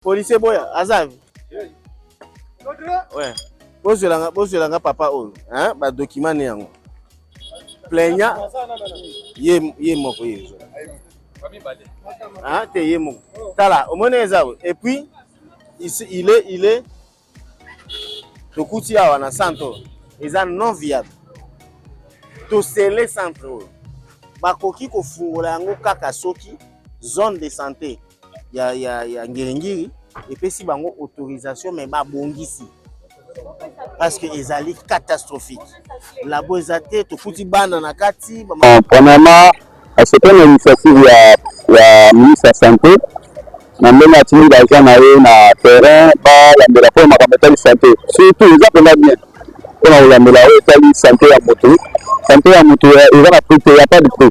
Policier boya azavi. Ouais. Bozwelanga bozwelanga papa oyo, hein, ba document ne yango. Plaignant ye ye moko ye. Hein, te ye moko. Tala, omoni eza et puis il est il est tokuti awa na centre oyo eza non viable tosele centre oyo bakoki kofungola yango kaka soki zone de santé ya, ya, ya ngiringiri epesi bango autorisation me babongisi parce que ezali catastrophique labo eza te tokuti bana na kati ah, Asepeli na initiative ya ya ministre ya sante na ndenge atindi baza na ye na terrain balandela mpo makambo etali sante surtout eza mpenza bien mpo na kolandela oyo etali sante ya motu sante ya motu eza na prix te ya pas de prix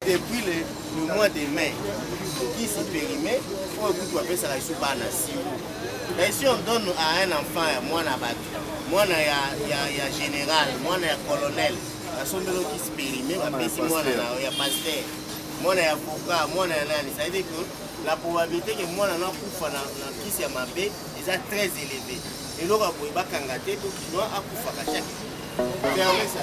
depuis le, le mois de mai kisi perime oyo kutu bapesaka biso bana siro mais si on donne à un enfant ya mwana ya bato mwana ya, ya, ya général mwana ya colonel basombeli okisi perime bapesi mwana na ya paster mwana ya voka mwana ya nani ça veut dire que la probabilité ke mwana nakufa na, na kisi ya mabe eza très élevé eloko ya boye bakanga te po kinois akufaka chaque ferme sa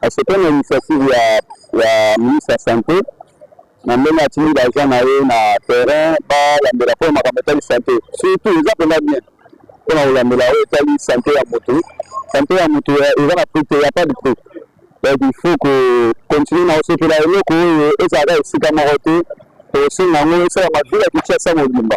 Asepeli na initiative ya ya ministre ya sante na ndenge atindi ba agent na ye na terrain balambela mpo na makambo etali sante surtout eza mpenza bien mpo na kolambela oyo etali sante ya motu sante ya motu eza na prix te ya pas de prix donc il faut ko continuer na kosepela eloko oyo ezalaka esika moko te tokosenga yango esalama vila kinshasa mobimba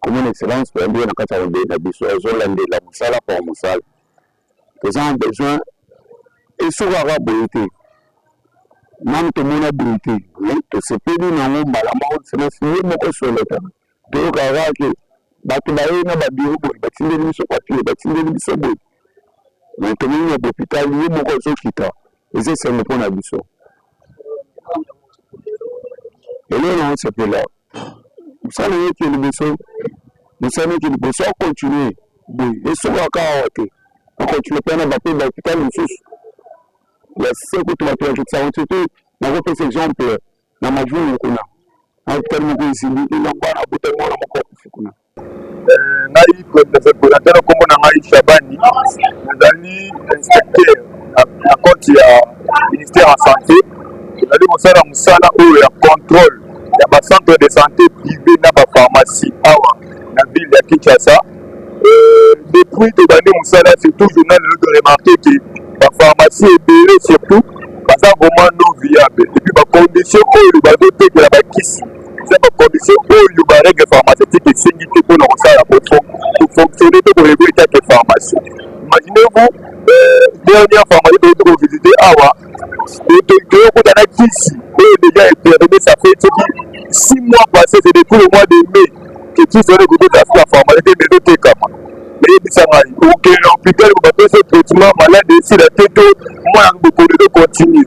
komona excellence toyambi ye na kati ya mabele na biso azolandela mosala mpo mosala toza na besoin esukaka boye te nanu tomona boye te tosepeli na yango mbala moko excellence ye moko soleka toyokaka ke bato bayei na babiro boye batindeli biso papie batindeli biso boye tomoni na lopitali ye moko azokita eza esengo mpo na biso eloko na osepela mosala yoki liboso mosala yoki liboso akontinue boye esukaka awa te akontinue mpe na bape bahopitali mosusu ya seko to bato bakitisaka soki nakopesa exemple na majungu kuna na hopitali moko ezili elamba na bota mwana moko akufi kuna ngai coordinateur kombo na ngai Shabani nazali inspecteur na compte ya ministère ya santé tozali kosala mosala oyo ya contrôle ya ba centre de santé privé na ba pharmacie awa na ville ya Kinshasa euh, depuis tobandi mosala surtout journal lelo to remarqué que ba pharmacie ebele surtout baza vraiment non viable epuis ba condition oyo bazotekela bakisi eza ba condition oyo ba règle pharmaceutique esengi te mpona kosala kofonctionne to koyeboli kaka pharmacie imaginez vous euh, dernière pharmacie toyei tokovisite awa toyei kota na kisi oyo deja eperime ça fait soki six mois passé c'est depuis le mois de mai que kisi wana ekoki kozala na pharmacie te mais ezotekama eyebisa ngai okende na hôpital bapesa traitement malade esila te to mwana bokoli to continue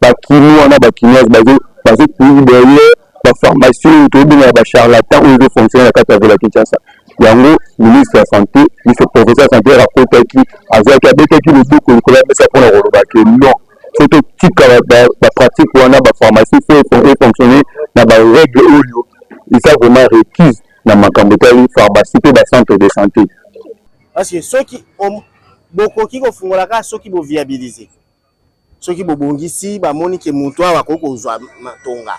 ba kinois na ba kinoise bazo bazo courir derrière ba pharmaciens oyo toyebengaka ba charlatan oyo ezo fonctionner na kati ya vila kinshasa yango ministre ya sante miso professeur santer akotaki azwaki abetaki loboko likolo ya mesa mpona koloba ke non so totika bapratique wana bapharmacie fo efonctionne na barègle oyo eza vraiment requise na makambo etali pharmacie mpe bacentre de santé parce que soki bokoki kofungola kaka soki boviabilise soki bobongisi bamoni ke moto awa akoki kozwa matonga.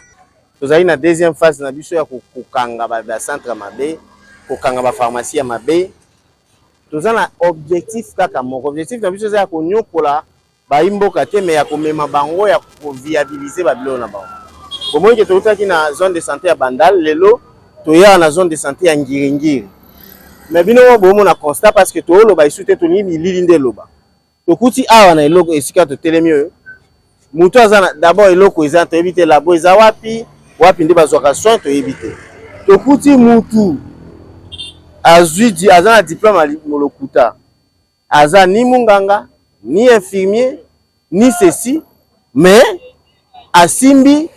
Tozali na deuxième phase na biso ya kokanga ba centre mabe, kokanga ba pharmacie ya mabe. Toza na objectif kaka moko, objectif na biso eza ya konyokola bayi mboka te, mais ya komema bango ya koviabilise ba biloko na bango. Bomoni ke toutaki na zone de sante ya Bandal, lelo toya na zone de sante ya Ngiringiri. Mais bino moko bomona constat parce que toloba lisusu te, tolingi bilili nde eloba. tokuti awa na eloko esika totelemi oyo moto aza na d'abord eloko eza toyebi te labo eza wapi wapi nde bazwaka soin toyebi te tokuti mutu azwi aza na diplome ya molokuta aza ni munganga ni infirmier ni ceci mais asimbi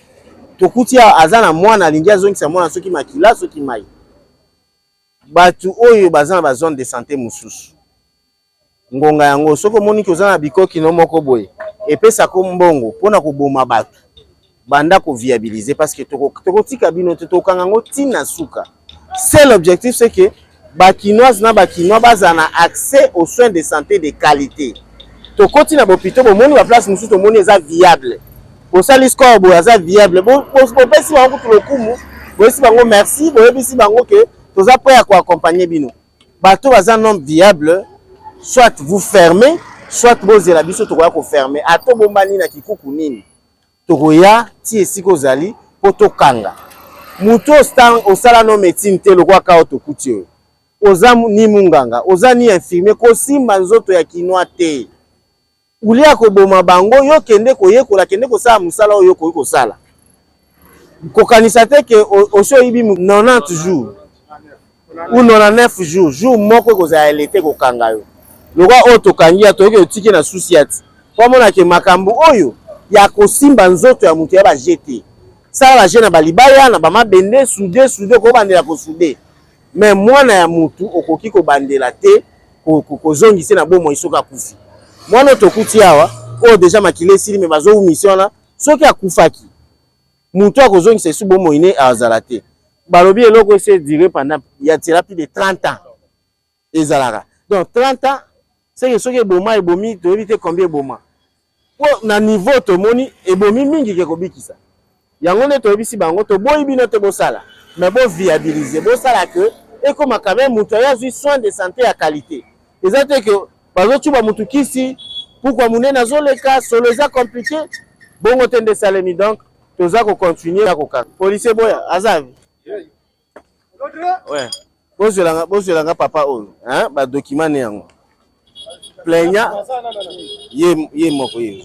tokuti awa aza na mwana alingi azongisa mwana soki makila soki mai bato oyo baza na bazone de santé mosusu ngonga yango soki omoni ke oza na bikoki no moko boye epesako mbongo mpo na koboma bato banda koviabilise parce que tokotika toko bino te tokanga yango ntina suka seul objectif c'est que bakinoise na bakinois bazala na accès aux soins de santé de qualité tokoti na bopito bomoni baplace mosusu tomoni eza viable bosali score boye aza viable bopesi bango kutu lokumu boyesi bango merci boyebisi bango ke toza prêt ya koaccompagne bino Bato baza non viable, soit vous fermez, soit bozela biso tokoya ko fermer. Ato bombani na kikuku nini? Tokoya ti esika ozali po tokanga. Moto osala no médecine te lokola kao tokuti oyo. Oza ni munganga, oza ni infirmier, kosimba nzoto ya kinois te. Olie ya koboma bango, yo kende koyekola, kende kosala mosala oyo okoki kosala. Kokanisa te ke osi oyibi 90 jours ou 99 jours, jour moko ekozala ya leta ekokanga yo. Lokola oyo tokangi ya toyoki otiki na susi ya ti. Po amona ke makambo oyo ya kosimba nzoto ya moto ya ba jeu te. Sala ba jeu na ba libaya, na ba mabende, soude soude, okobandela ko soude. mais mwana ya mutu okoki kobandela te kozongise na bomoi soki akufi mwana oyo tokuti awa oyo deja makila esili me bazowumisi wana soki akufaki moto akozongisa esu bomoi ne azala te balobi eloko ese dire pendant ya tiela plus de 30 ans ezalaka donc 30 ans seke soki eboma ebomi toyebi te combien eboma po na niveau tomoni ebomi mingi ke kobikisa yango nde toyebisi bango toboyi bino te bosala mais bo viabiliser bosala que ekoma quand même moto aye azwi soin de santé ya qualité eza te ke bazocuba motu kisi pukua monene azoleka solo eza compliqué bongo te nde esalemi donc toza kocontinue ya kokanga policier boya aza Ouais. Bozwelanga bozwelanga papa oyo, hein, ba document ne yango. Plaignant ye ye moko ye.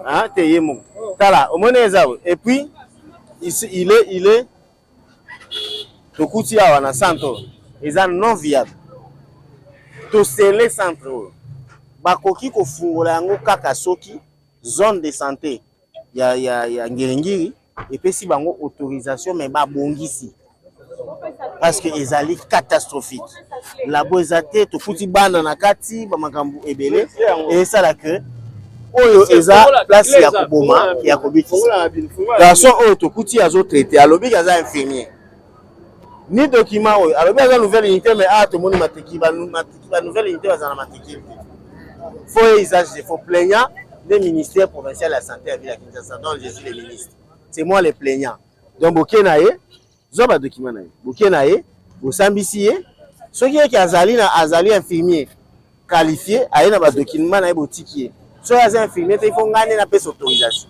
Hein, te ye moko. Tala, omoni eza et puis il est il est tokuti awa na centre oyo eza non viable tosele centre oyo bakoki kofungola yango kaka soki zone de santé ya, ya, ya ngiringiri epesi bango autorisation mais babongisi parce que ezali catastrophique labo eza te tofuti bana na kati bamakambo ebele esala que oyo eza place ya koboma ya kobikisa garçon oyo tokuti azotraite alobi aza infirmier ni document oyo alobi aza nouvelle unité mais awa tomoni matiki ba nouvelle unité bazala matiki te faut ye usage de faut plaignant nde ministère provincial ya santé ya ville ya kinshasa donc je suis le ministre c'est moi le plaignant donc boke na ye zwa badocument na ye boke na ye bosambisi ye soki yeke azali na azali infirmier qualifier aye na ba document na ye botiki ye soki aza infirmier te il faut ngai nde napesa autorisation